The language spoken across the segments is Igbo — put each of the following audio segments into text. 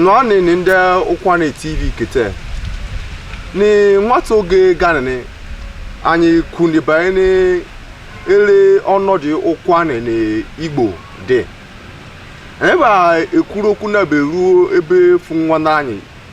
nọ nini nde ụkwụanị tv kete ni nwata oge ganini anyị kwuni banyere ele ọnọdụ ụkwụanị na igbo dị ebe a ekwuru okwu na beruo ebe fụ nwanne anyị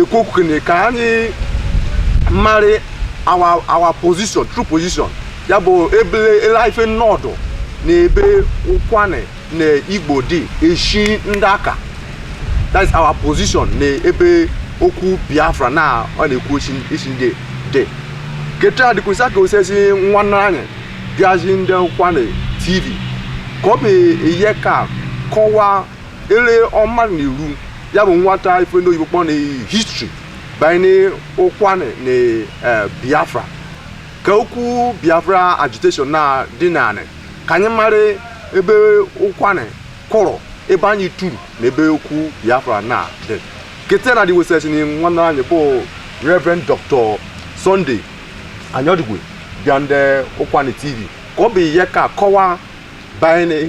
ekwu okwu kene ka anyị marị our our position true position ya bụ ebe ele ife nọdụ na ebe ụkwụanị na igbo dị eshi ndị aka that is our position na ebe okwu biafra na ọ na-ekwu eshi eshi ndị dị keta adịkwesa ka osesi nwanne anyị bịazi nde ụkwụanị tv ka ọ bụ ihe ka kọwa ele ọma na iru ya bụ nwata ife ndị oyibo kpọ na history banye ụkwụanị na eh, biafra ka okwu biafra agitation na dị nanị ka anyị mara ebe ụkwụanị kwụrụ ebe anyị turu na ebe okwu biafra na dị kete na dịwesịrị na nwanne anyị bụ reverend dr sunday anyadigwe bịa nde ụkwụanị tv ka ọ bụ ihe ka kọwa banye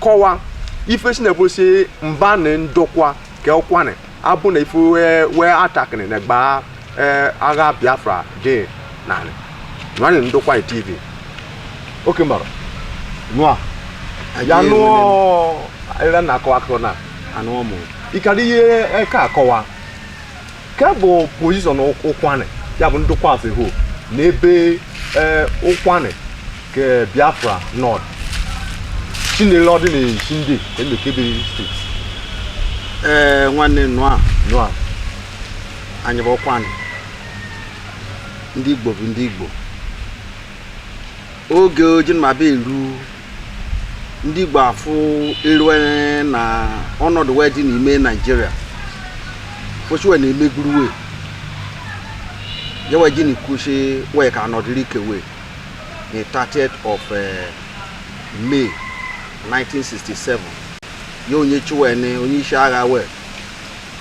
kọwa ife si na-ebusi mba na ndokwa ka ụkwụanị abụ na ife wee wee atakịrị na gbaa ee, agha biafra dị narị nwanị ndokwa tv oke mara nụa ya nụọ ere na-akọ akụkọ na anụ ọmụ ịkara ihe eke akọwa nke bụ position ụkwụanị ya bụ ndokwa sị ho n'ebe ee, ụkwụanị ke biafra nọd chinere ọdị na eshi nde emekebe steeti ee nwanne nụ a nụa anyị bụ ụkwụanị ndị igbo bụ ndị igbo oge ojinmaba eru ndị Igbo afụ erue na ọnọdụ we dị n'ime Nigeria foshiwe na emeguru we yewe jini kwushi we ka anọdịrị ke we the 30th of uh, May 1967 ya onye chiwene onye isi agha we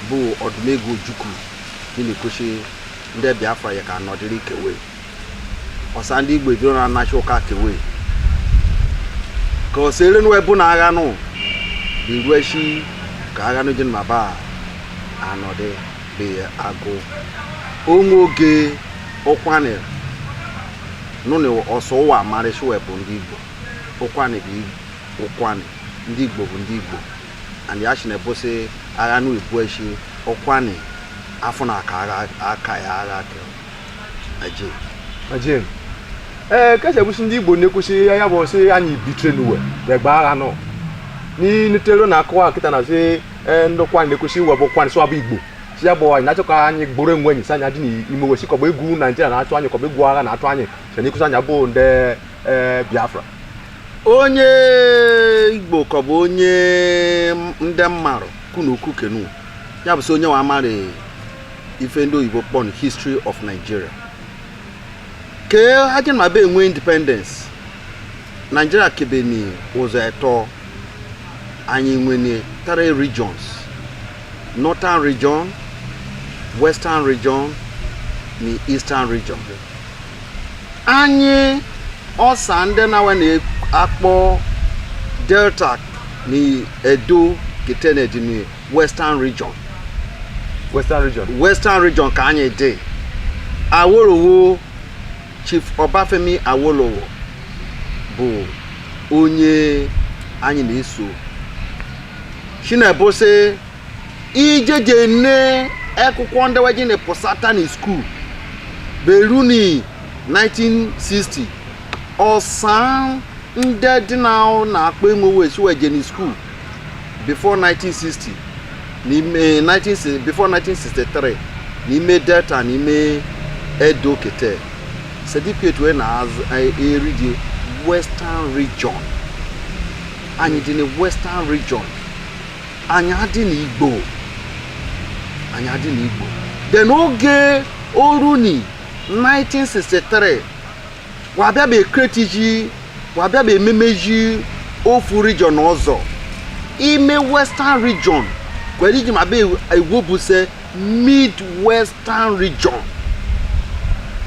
bụ Odumegwu Ojukwu jini kwushi ndị Biafra ya ka anọdịrị ke we ọsa ndị igbo ejiro na anachi ụka kewe ka ọsa ere nụ ebu na agha nụ bụ iru eshi ka agha nụ jin maba anọdị bụ agụ onwe oge ụkwụanị nụ na ọsọ ụwa amarịsị we bụ ndị igbo ụkwụanị bụ ụkwụanị ndị igbo bụ ndị igbo and ya shi na ebosi agha nụ ibu eshi ụkwụanị afọ na aka agha aka ya agha kere ajin ee eh, kese bụsi ndị igbo na-ekwusi ya ya bụ sị anyị bitre n'uwe ya gbaa agha nọ n'inutero na akọwa kịta na sị eh, ndị Ukwuani na-ekwusi iwe bụ Ukwuani sụwa bụ igbo si ya bụ anyị na-achọ ka anyị gboro enwe anyị si anyị a dị n'ime we si kọba egwu naijiria na-atụ anyị kọba egwu agha na-atụ anyị si na-ekwusi anyị abụ ndị eh, biafra onye igbo ka bụ onye ndị mmarụ kunu kukenu ya bụ sị onye wa amarị ife ndị oyibo kpọni history of Nigeria ke ha jini ma be enwe independence Nigeria kebeni ụzọ etọ anyị nwene three regions northern region western region ni eastern region anyị ọsa ndị na we na-akpọ delta ni edo kete ne dini western region western region ka anyị dị awolowo chief ọbafemi awolowo bụ onye anyị na-eso chinebo sị ijeje ne akwụkwọ ndị we jeni pụsata na school beruni 1960 ọsan ndị dị na na-akpọ enwe we si we jeni school before 1960 n'ime 19 before 1963 n'ime delta n'ime edo kete certificate we na-eridi western region anyị dị na western region anyị adị na igbo anyị adị na igbo then oge oruni 1963 wa bịa be create zi wa bịa be meme zi ofu region ọzọ ime western region ke we ji ma be ewo bụ se mid western region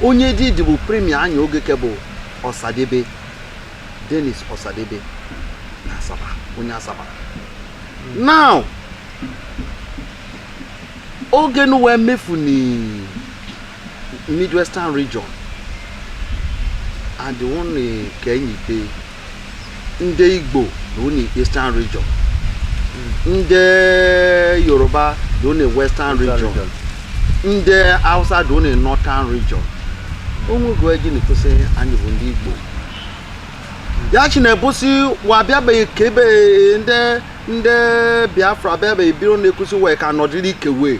onye dị dị bụ premier anyị oge ke bụ ọsadebe dennis ọsadebe na asaba onye asaba now oge nu wee mefu ni midwestern region and one kenyi pe ndị igbo nọ na eastern region ndị yoruba nọ na western region ndị hausa nọ na northern region onwego eji na-ekwusi anyị bụ ndị igbo ya chi na-ebusi wa bịa be ka ebe ndị biafra bịa be biro na-ekwusi wee ka nọdịrị ike wee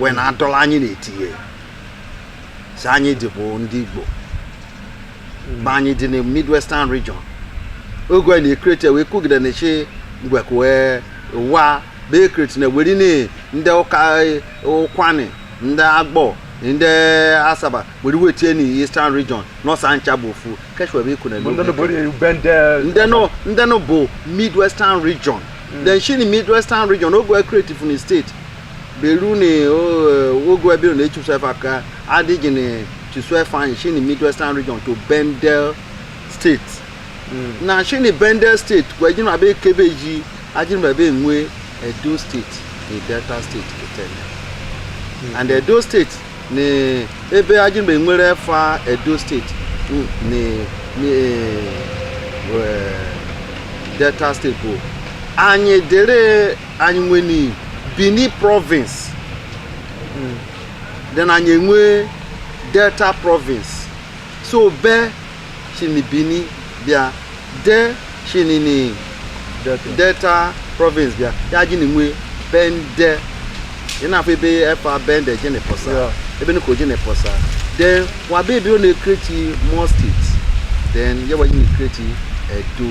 wee na-adọla anyị na-etinye si anyị dị bụ ndị Igbo ma anyị dị na Midwestern region oge a na-ekrete wee kwugide na chi mgbe wee wa bụ ekrete na weri ndị ụka Ụkwani ndị Agbọ ndị Asaba weri we tinye ni Eastern region nọ sị anyị ncha bụ ofu keshwe bụ ikwu na Bụ ndị nọ bụ eri bendel. ndenụ ndenụ bụ midwestern region then shi na midwestern region oge creative na steeti beru na o- oge ebiro na echusefa ka adịghị na chusefa anyị shi na midwestern region to bendel steeti na shi na bendel steeti kwa ejiri abịa ke ebe ji ajiri abịa enwe edo steeti na delta steeti kịtanị and edo steeti na ebe ajini bịa nwere fa Edo steeti na na eh, Delta steeti bụ anyị dere anyị nwe ni Benin province then anyị enwe Delta province so be shi ni Benin bịa Del shi ni Delta province bịa ya jini nwe Bendel ị na-afụ ebe efa Bendel jene pụsa ebe nụ ka o jene pụsa then wabe ebe ọ na-ekreti more states then ya wa jini kreti Edo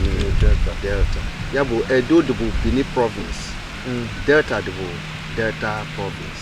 ni Delta ya bụ Edo dịbụ Benin province mm. Delta dịbụ Delta province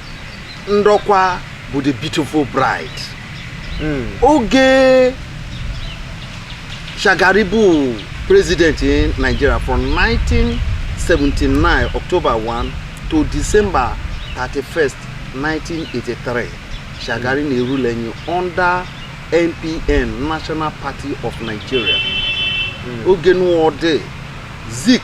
Ndọkwa bụ the beautiful bride hmm. oge Shagari bụ president in Nigeria from 1979 October 1 to December 31st 1983 Shagari na-erule enyi under NPN National Party of Nigeria hmm. oge nụwa ọ dị Zik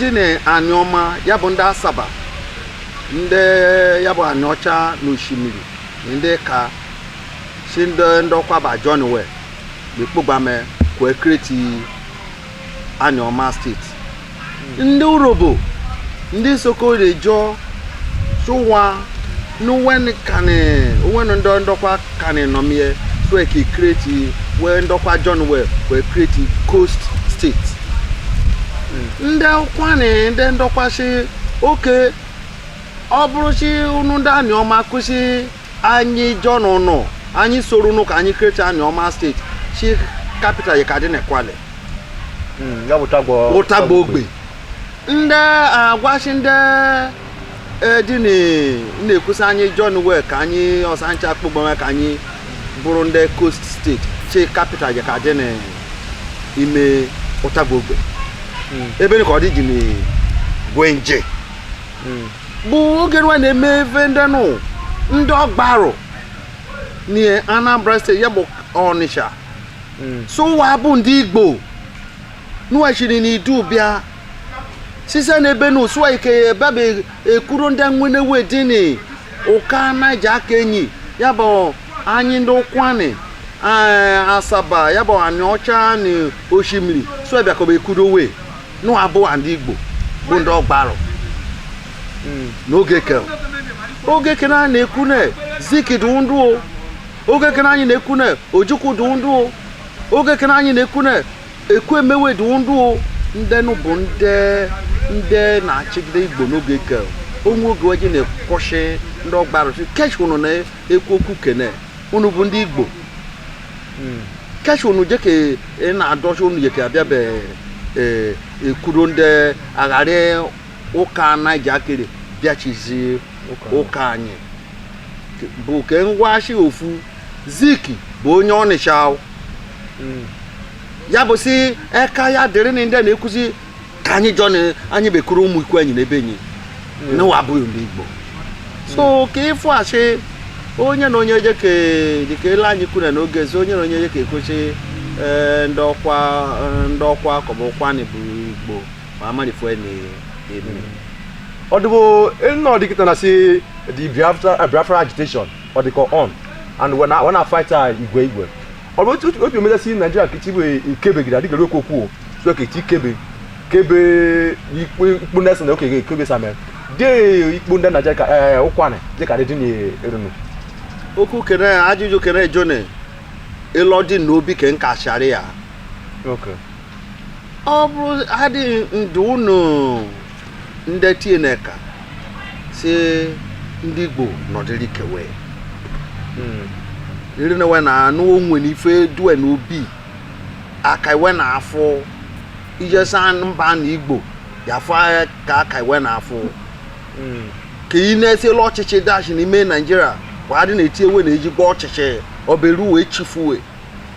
dị na Anịọma ya bụ ndị Asaba ndị ya bụ Anịọcha na Oshimili na ndị Ịka si ndị Ndọkwa bịa join we bịa kpọgbame ka e kreti Anịọma steeti ndị Urhobo ndị Isoko ndị Ịjọ sị wa na we kanị onwe ndị Ndọkwa kanị nọme sị ka e create we ndị Ndọkwa join we create coast state. Ndị Ụkwani ndị Ndọkwa si okay ọ bụrụ si unu ndị Anịọma kwu si anyị join unu anyị soro unu ka anyị create Anịọma steeti si capital ya ka dị na Kwale. Ya bụ Ụtagba Ụtagba Ogbe ndị Ọgwashị ndị ee di na na-ekwusa anyị join we ka anyị ọsa ncha akpụgbanwe ka anyị bụrụ ndị coast steeti chi kapital ji ka dị n'ime Utagba Ogbe hmm. ebeni ka ọ dị ji na gwenje hmm. bụ oge nwa na-eme ebe ndị nụ ndị Ọgbarụ na Anambra steeti ya bụ Ọnịcha hmm. so wa bụ ndị Igbo nụ we shiri na Idu bịa sise n'ebe nụ so wa ike bịa bekwuru ndị nwene we dị ni ụka Naija ke enyi ya bụ anyị ndị Ụkwanị eh, Asaba ya bụ Aniọcha na Oshimiri so bịakọba ekwuru we nụ abụ ndị Igbo bụ ndị Ọgbarụ hmm. n'oge ke oge kere a na-ekwu na Zik dị ndụ oge kere anyị na-ekwu na Ojukwu dị ndụ oge kere anyị na-ekwu na Ekwueme we dị ndụ ndị nụ bụ ndị ndị na-achịgide Igbo n'oge ke o nwe oge we ji na-ekwu sị ndị Ọgbarụ sị kesh unu na-ekwu okwu kene unu bụ ndị Igbo kesh unu je ka ị na-adọsị unu je ka abịa bekwuru ndị agharị ụka Naija kere bịachizi ụka anyị bụ ke ngwashi ofu Zik bụ onye Ọnịcha. Hmm. ya bụ si eka ya dịrị na ndị na-ekwuzi ka anyị jọ na anyị bekuru ụmụ ikwu anyị n'ebe enyi hmm. na wa abụghị ndị Igbo so hmm. ka ị fụ asị onye na onye dịka ele anyị kwuru n'oge ezi onye na onye dịka ekwesị eh, ndị ọkwa eh, ndị ọkwa akọbụ Ụkwanị bụ Igbo ma amarịfụ na ebe ọdụbụ nọ dị kịta na si the Biafra agitation ọ dịka on and we na, we na fight igwe igwe ọ bụ otu otu o meza sị Naijiria ka ichibu ikebegide adịgị ekwu okwu o so ka echi kebe kebe ikpe ikpe ndị na okenye ekebe same de ikpe ndị Naijiria ka ee Ụkwanị dịka dị dị na-erunu okwu kene ajụjụ kene jone ịlọ dị n'obi ke nka shari ya okay ọ bụrụ adị ndụ unu ndị tineka si ndị Igbo nọdịrị ke we hmm. iri na we na anụ onwe na ife dị we na obi aka iwe na afọ ijesa mba na Igbo ya afọ ka aka iwe na afọ hmm. ka ị na-esi ele ọchịchị dashị n'ime Naijiria wa dị na-eti we na ejigbo ọchịchị o beru we chifu we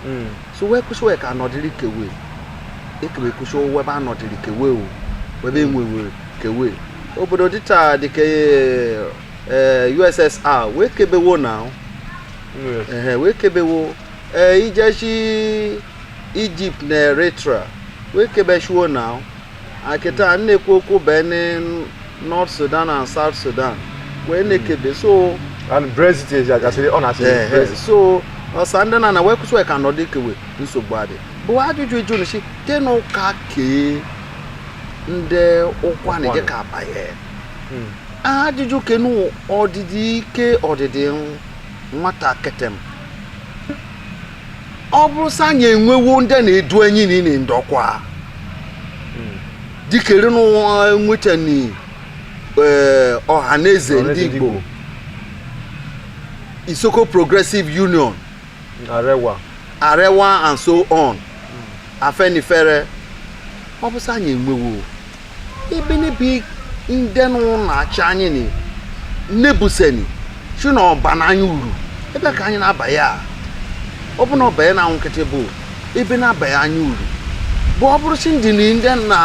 hmm. so we ekwu sị we ka anọdịrị ke we ekebe kwụsị we ebe anọdịrị ke we o we ebe enwe we ke we obodo dịta dịka eh, USSR wee kebewo na hmm. wee kebewo eh, i jeshi Egypt na Eritrea wee kebechiwo na akịta a na-ekwu okwu bene north sudan and south sudan wee na-ekebe so and brexit is agasịrị ọ na-asị eh, eh, brexit so ọsa ndị na na wee kwụsị wee ka nọdụ ike we nsogbu adị bụ ajụjụ ịjụ nsi te na ụka kee ndị Ụkwanị je ka abanye Hmm. ajụjụ kenu ọdịdị ike ọdịdị nwata ketem ọ bụrụ sị anyị enwewo ndị na-edu enyi na ịnị ndọkwa dikere n'ụwa nwetani eh, Ọhaneze ndị Igbo Isoko Progressive Union Arewa Arewa and so on Afenifere ọ bụrụ sị anyị enwewo ibe n'ibe ndị nụ na-achị anyị ni nebuseni si na ọ bana anyị uru ebe ka anyị na-aba ya ọ bụ na ọba ya na nkịtị bụ ebe na-aba ya anyị uru bụ ọ bụrụ si ndị ndị na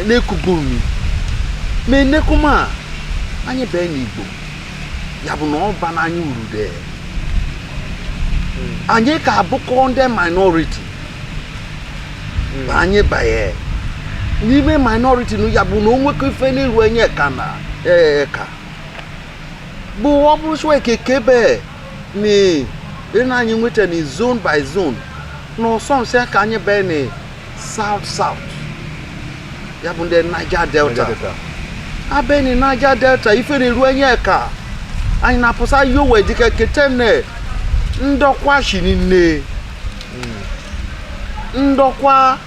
na-ekubu umi ma e na-eku ma anyị bee n'Igbo ya bụ na ọ bana anyị uru dee anyị ka abụkọ ndị minority hmm. anyị banye n'ime minority na ya bụ na onwekọ ife na-eru enyi eka na ee ka bụ ọ bụrụ sị ekekebe na ịna anyị nwetani zone by zone na ọsọ nsị ka anyị bee na south south ya bụ ndị Niger Delta abee na Niger Delta ife na-eru enyi eka anyị na-apụsa yowe dịka ketene ndọkwa shi nne ndọkwa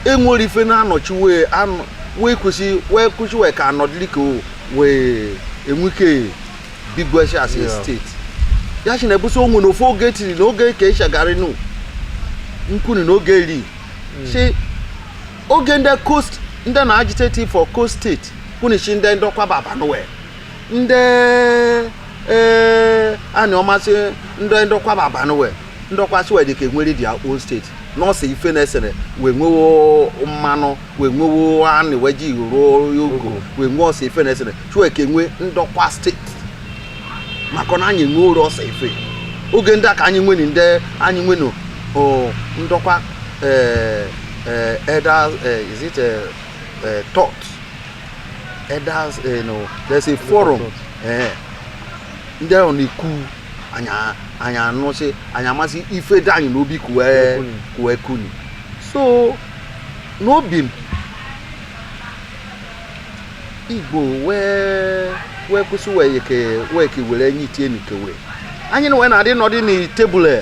enwere ife na-anọchi wee wee kwesị wee kwụsị wee ka anọdịrị ka wee enwe ike bigwesi as a state ya si na ebusi onwe na ofu oge tiri na oge ke Shagari nu nkwuni na oge eri hmm. si oge ndị coast ndị na-agitate for coast state kwunichi ndị ndọkwa baba na we ndị ee eh, anyị ọmasị ndị ndọkwa baba na we ndọkwa si wee ka enwere their own state na ọsa ife na-esere wee nwewo mmanụ wee nwewo anị wee ji ruo ogo wee nwee ọsa ife na-esere chue ka enwe ndọkwa state maka na anyị nweru ọsa ife oge ndị a ka anyị nwenu ndị anyị nwenu o, ndọkwa eh, eh, elders eh, is it eh, eh, thought elders eh, no, there's a forum eh, ndị ahụ na-ekwu anyị anụsị anyị amasị ife dị anyị n'obi kuwe kuni so n'obi ndị igbo wee wee kwụsị wee ke wee ke were enyi tie n'ikewe anyị na wee na-adị nọdị na tebụl e.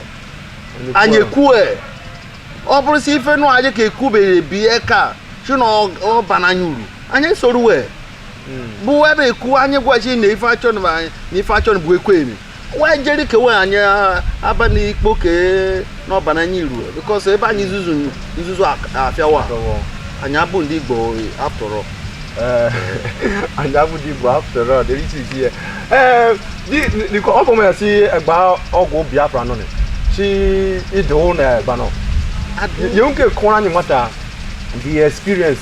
anyị ekwue e. ọ bụrụ si ife nụ anyị ka ekwube bie ka si na ọ bana anyị uru anyị soro wee hmm. bụ ebe ekwu anyị gwaji na ife achọ na ife achọ bụ ekwemi wee jeri kewe anyị aba n'ikpo ke na ọ bana anyị uru bikos ebe anyị nzuzu nzuzu afịawa anyị abụ ndị igbo after all, anyị abụ ndị igbo after all dịrị iche iche ee eh, ọ bụ ya si egba ọgụ biafra nọ si ịdị ụlọ egba nọ ya nke kụrụ anyị nweta the experience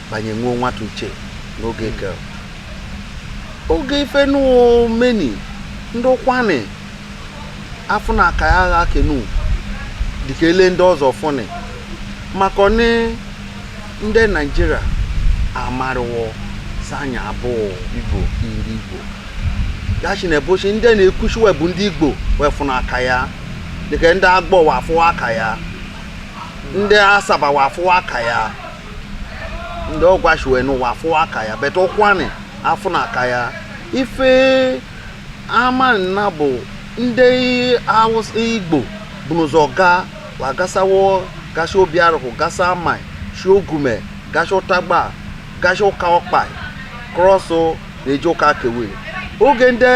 bụ anyị wee nweta uche n'oge ke oge ife nụ meni ndị ụkwanị afụna aka ya agha kenu dịka ele ndị ọzọ fụnị maka ni ndị naijiria amarịwo si anyị abụ igbo ndị igbo ya si n'ụbọchị ndị na-ekwu si we bụ ndị igbo wee fụna aka ya dịka ndị agbọ wee afụwa aka ya ndị asaba wee afụwa aka ya ndị ọgwashi we nụ wa afụwa aka ya but ụkwanị afụna aka ya ife amana na bụ ndị awụsa igbo bu n'ụzọ gaa wa gasawo gasị obiarụkụ gasị amai shi ogume gasị ụtagba gasị ụka ọkpai krọsụ na-eji ụka kewe oge ndị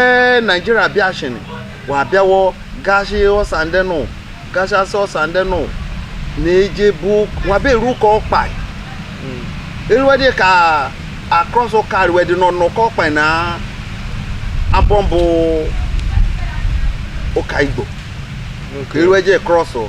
naijiria bịachini wa bịawo gashi ọsa ndị nụ gashasị ọsa ndị nụ na-eje but wa be eru ụka ọkpai eruwedị ka across ụka ruwedị nọ n'ụka ọkpai na abọ bụ ụka igbo eruweje krọsụ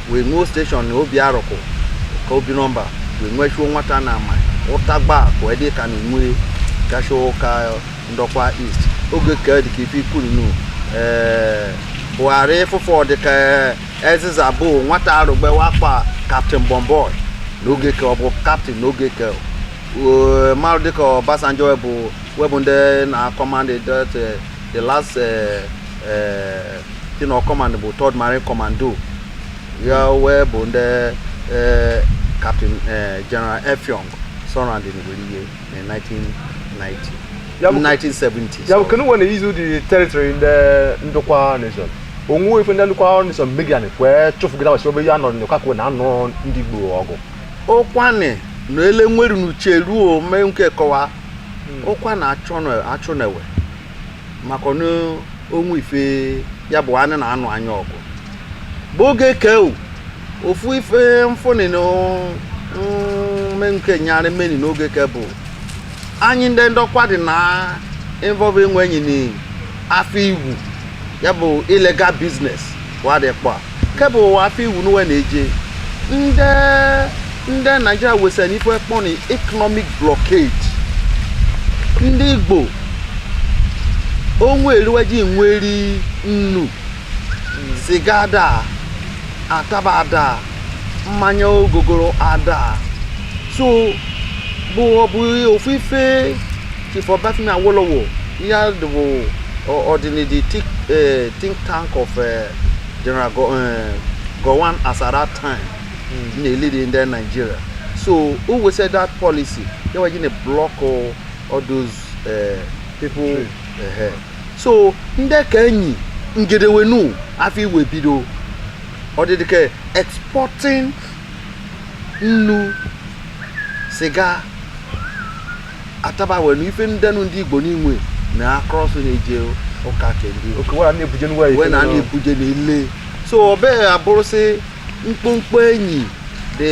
wee nwee steshọn na obiarụkụ ka obinọmba wee nwechuo nweta na amai ụtagba ka wee dị ka na enwe gacha ụka ndọkwa east oge ka dị ka ife i kwunu ee buhari fụfọ dị ka aziza bụ nwata arụgbe wa kpọ kaptịn bọmbọị n'oge ka ọ bụ kaptịn n'oge ka mmadụ dịka Obasanjo wee bụ wee bụ ndị na-akọmandị the last uh, uh, thing of command bụ third marine commando ya wee bụ ndị uh, captain uh, general efiong surrender Igweriye in 1990. Ya bụ- 1970. ya bụ kenu we na-use the teritori ndị ndokwa nation o nwe ife ndị ndokwa nation megian kwee chụfụgide agbasi obe ya nọrọ n'ụka kwuo na-anụ ndị igbo ọgụ ụkwanị na ele nweru n'uche ruo mee nke kọwa ụkwa hmm. na achọ na-ewe maka onwe ife ya bụ anụ na anụ anya ọgụ bụ oge keu ofu ife mfụni na mme nke nyarị mmeni n'oge ke bụ anyị ndị Ndokwa dị na involve onwe enyi na afịa iwu ya bụ illegal business wa dị kpọa ke bụ ụwa afịa iwu n'uwe na-eje ndị ndị naijiria wesịrị n'ife kpọni economic blockade ndị igbo onwe eriweji nweri nnu siga ada ataba ada mmanya ogogoro ada so bụ ọ bụ ofu ife Chief Obafemi Awolowo Ihe a dị bụ ọ- ọ dị nị the tik- eh, think tank of eh, General Go- eh, Gowon as at that time na-elead ndị Nigeria so o wesịa that policy ya wa ji na block all all those eh, people eh, so ndị ka enyi ngedewenu afịa wee bido ọdịdị ka exporting nnu siga ataba wee na ife ndenu ndị igbo n'inwe na across na-eje ụka kendi oke wee na-ebuje n'ụwa wee na a na-ebuje n'ile so ọ bịa abụrụ sị mkpụmkpụ enyi dị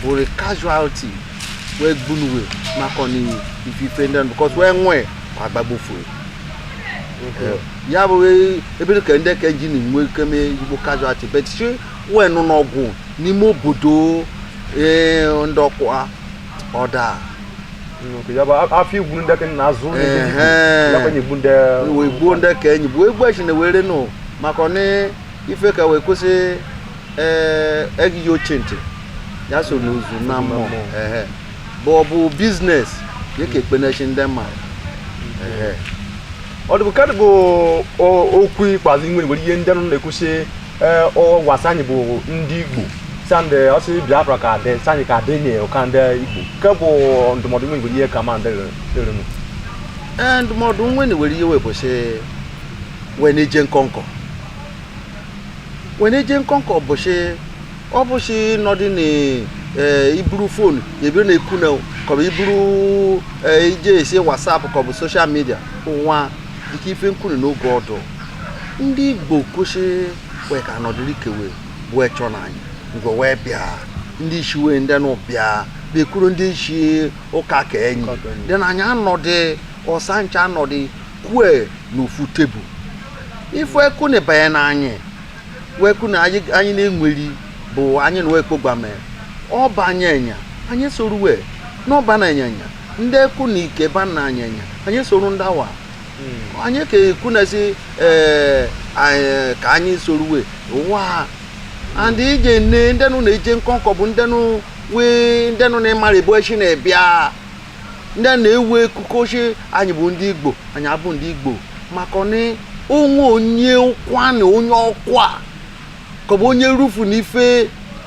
bụrụ casualty wee gbunuwe maka na ifife ndị nụ because wee nwee agbagbufue ya bụ ebe ka ndị ka ji na-enwe ike mee igbo casualty but sị wee nọ n'ọgụ n'ime obodo ee Ndokwa ọ daa afịa iwu ndị na azụ wee gbuo ndị ka enyi bụ egbu echi na were nụ maka ọnị ife ka wee kwụsị egighị oche ntị ya so n'ozu na mmụọ bụ ọ bụ business dịka ekpenechi ndị mmadụ ọ dịbụ kadị bụ okwu ikpeazụ nwere ihe ndị nọ na-ekwusi ee ọ gwasị anyị bụ ndị igbo sandị ọsị biafra ka dị sanyị ka dị nye ụka ndị igbo nke bụ ndụmọdụ nwe nwere ihe ka ma ndị rụrụ ee ndụmọdụ nwe na were ihe wee bụ sị wee na-eje nkọnkọ wee na-eje nkọnkọ bụ sị ọ bụ sị nọdị na ee iburu phone ebiri na-ekwu na kọbụ iburu ee ije esi WhatsApp kọbụ social media ụwa dịka ife nkwuru n'oge ọdụ ndị igbo kwusi wee ka anọdụrụ ikewe bụ echọ na anyị ngwe wee bịa ndị isi wee ndị nụ bịa bekwuru ndị isi ụka ka enyi dị na anyị anọdị ọsa ncha anọdị kwue n'ofu tebụl ife eku na ịbanye na anyị wee kwu na anyị na-enweri bụ anyị na wee kpọgbame ọ ba anyị enya anyị soru we n'ọ bana anyị enya ndị eku na ike bana anyị enya anyị soro ndị awa hmm. anyị ka ekwu na sị eh, eh, ka anyị soruwe ụwa and ije nne ndenụ na-eje nkọnkọ bụ ndenụ wee ndenụ na-emara ebe o shi na-ebịa ndị na-ewu ekuku ochi anyị bụ ndị igbo anyị abụ ndị igbo maka na o nwe onye ụkwanị onye ọkwa ka ọ bụ onye rufu n'ife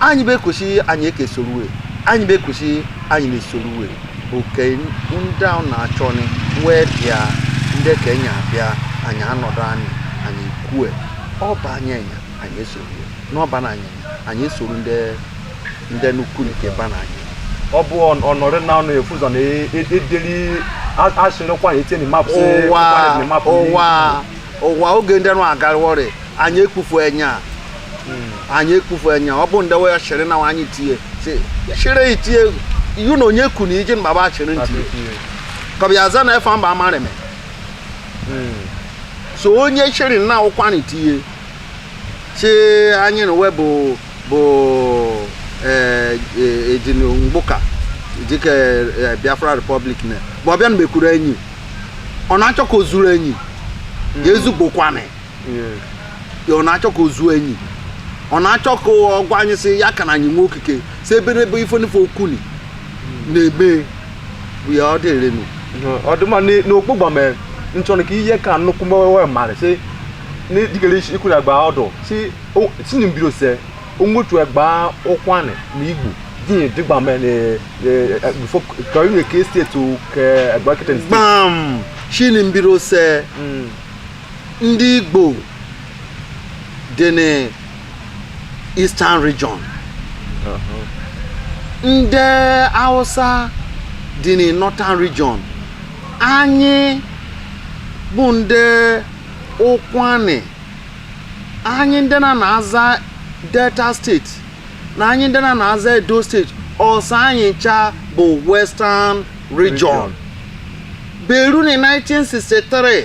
anyị bekwusi anyị ekesoruwe anyị bekwusi anyị na-esoruwe oke ndị ahụ na-achọ ni wee bịa ndị ka enyi abịa anyị anọdụ ni anyị kwue ọ ba anyị enya anyị esoruwe n'ọ bana anyị enya anyị esoro ndị ndị nnukwu nke ba na anyị ọ bụ ọ- ọnọrị na ọnụ efu ụzọ na e- e- edeli a- asịrịkwa anyị etinye map sị ụwa ụkwa na map ụwa ụwa oge ndị nụ agarịwọrị anyị ekpufu enya anyị ekpufu enya ọ bụ ndị we shiri na anyị tie shiri itie iyu na onye ku na iji mgbaba shiri ntị ka ọ bịa za na efa mba amarịme so onye shiri na ụkwanị tie shi anyị na we bụ ejinu mgbuka dịka biafra republic na bụ ọbịa na mekwuru enyi ọ na-achọ ka o zuru enyi ya ezugbokwanị ya ọ na-achọ ka o zuo enyi ọ na-achọ ka ọ gwa anyị sị ya ka na anyị nwee okike si ebe n'ebe ife n'ife okuni na-eme bụ ya ọ dịrịnụ ọ dị mma na- n'okpu gbame nchọrọ ka ihe ka nnukwu mmewe mara si na dịkere isi ikwu na gba ọdụ si o- si na mbiri ose onwetu egba ụkwanị na igbo dị dị gbame na bifo ka inwe ka steeti ka egba kịtị gbam shi ni mbiri ose Ndị Igbo dị n'Eastern Region. Ndị Hausa dị na Northern Region. Anyị bụ ndị ụkwanị anyị ndị na na-aza delta steeti na anyị ndị na na-aza edo steeti ọsa anyị ncha bụ western region beru na 1963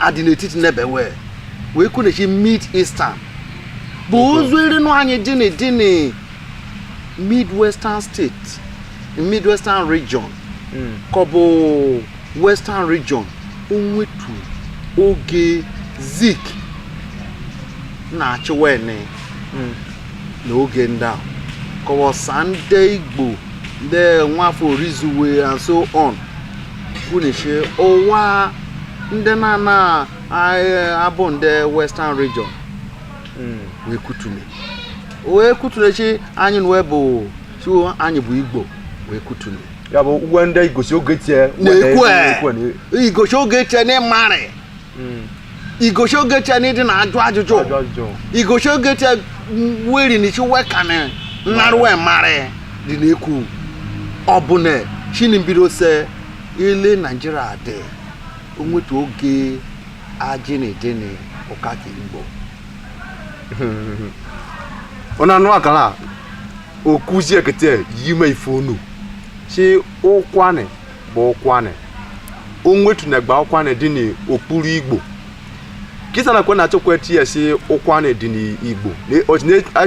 adị n'etiti n'ebe wee wee kwune si mid eastern bụ ụzọ erinu anyị dị ni dị ni midwestern state midwestern region ka ọ bụ western region onwetu oge zik na-achị wene na oge ndị ahụ kọwasa ndị igbo ndị nwafọ orizu we and so on kwuni si ụwa ndị na-ana abụ ndị western region hmm. wee kutune wee kutune si anyị na wee bụ so anyị bụ igbo wee kutune ya bụ uwe ndị igosi oge tie na-ekwe igosi oge tie ni ị marị hmm. igosi oge tia n'ịdị na ajụ ajụjụ igosi oge tia weri ni si wekanị narụwe marị dị n'ekwu ọ bụ na si ni mbido se ile nigeria dị onwetu oge ajị na ịdị na ụka ka igbo onye anụ akara okuzi ekete yime ị fọnụ si ụkwanị bụ ụkwanị onwetunagba ụkwanị dị n'okpuru igbo kịsa nakwa na-achọkwa tie si ụkwanị dị n'igbo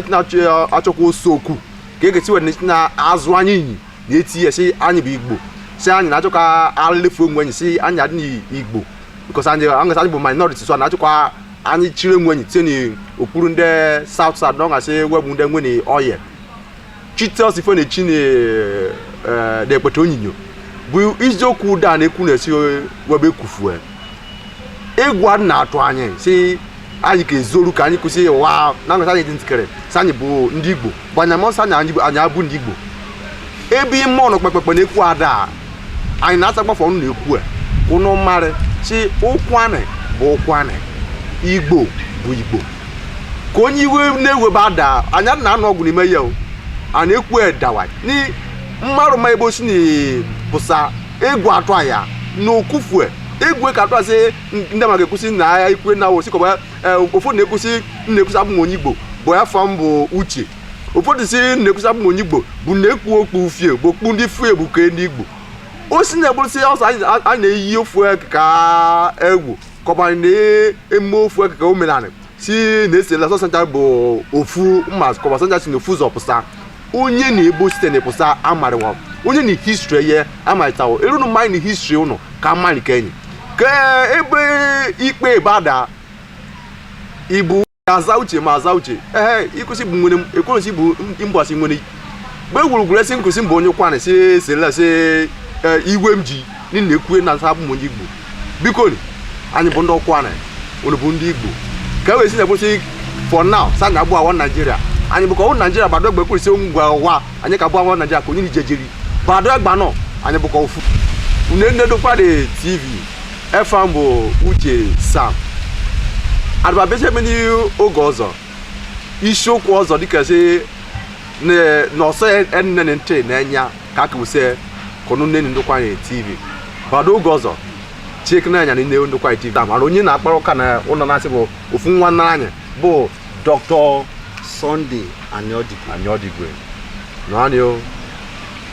na-achọkwa osokwu ka e gesi were na-azụ anyị inyi na-etie si anyị bụ igbo si anyị na-achọ ka anyị lefu onwe anyị si anyị adị n'igbo because anyị aṅụsị anyị bụ minority so a na-achọkwa anyị chiri onwe anyị tinye n'okpuru ndị south south na ọ gasị we bụ ndị nwere oil Chitel Sifenechi na-ekpete onyinyo bụ iziokwu ụda na-ekwu na-esi webe ekwufue egwu adị na-atụ anyị si anyị ka ezoru ka anyị kwụsị ụwa na ngasa anyị dị ntịkere si anyị bụ ndị Igbo bụ anya mọsọ anyị anyị abụ ndị Igbo ebe ime ọnụ kpekpekpe na-ekwu ada anyị na-asakpafọ ọnụ na-ekwu ka ụnụ marị si ụkwanị bụ ụkwanị igbo bụ igbo ka onye iwe na-ewe bada anya na anụ ọgwụ n'ime ya o a na-ekwu edawa ni mmarụ ma ebe o si na pụsa egwu atụ a ya na okufue egwu ka atụ asị ndị ma ga-ekwusị na ya ikwe na osi kọba ụfọdụ na-ekwusị na-ekwusị abụ m onye igbo bụ efa m bụ uche ụfọdụ si na-ekwu si abụ onye igbo bụ na-ekpu okpu ufie bụ okpu ndị ufie bụ ke ndị igbo o si na-egbụrụsị ọsọ anyị na-eyi ofu ka egwu kọbara na eme ofu ka omenala si na-esela sọ sancha bụ ofu mma kọba sancha si na ofu ụzọ pụsa onye na ebe o site na pụsa amarịwa onye na history ya amarịtawo erunu mmanya na history ụnụ ka amarị ke enyi ka ebe ikpe bada ibu aza uche ma aza uche ee ịkụsị bụ nwere ekwensi bụ mgbasi nwere mgbe gwurugwuru esi nkụsị mbụ onye kwana si esela si iwe m ji nile ekwue na asa abụm onye igbo biko anyị bụ ndị ụkwụanị unu bụ ndị igbo ka e wee si na-ekwesị for now sa na abụ awa naijiria anyị bụ ka ọwụ naijiria bado egbe kwurisi ngwa ụwa anyị ka bụ awa naijiria ka onye naijiria bado egba nọ anyị bụ ka ofu unu ene ndokwa tv efa m bụ uche sam adịba bejeme n'oge ọzọ isiokwu ọzọ dịka si n'ọsọ enne na ntị n'enya ka aka wuse kọnụ nene ndokwa tv bado oge ọzọ chike n'anya na nne ndokwa tv a mara onye na-akpara ụka na ụlọ na-asị bụ ofu nwa nna anyị bụ dọkịta Sunday Anyọdigwe naanị o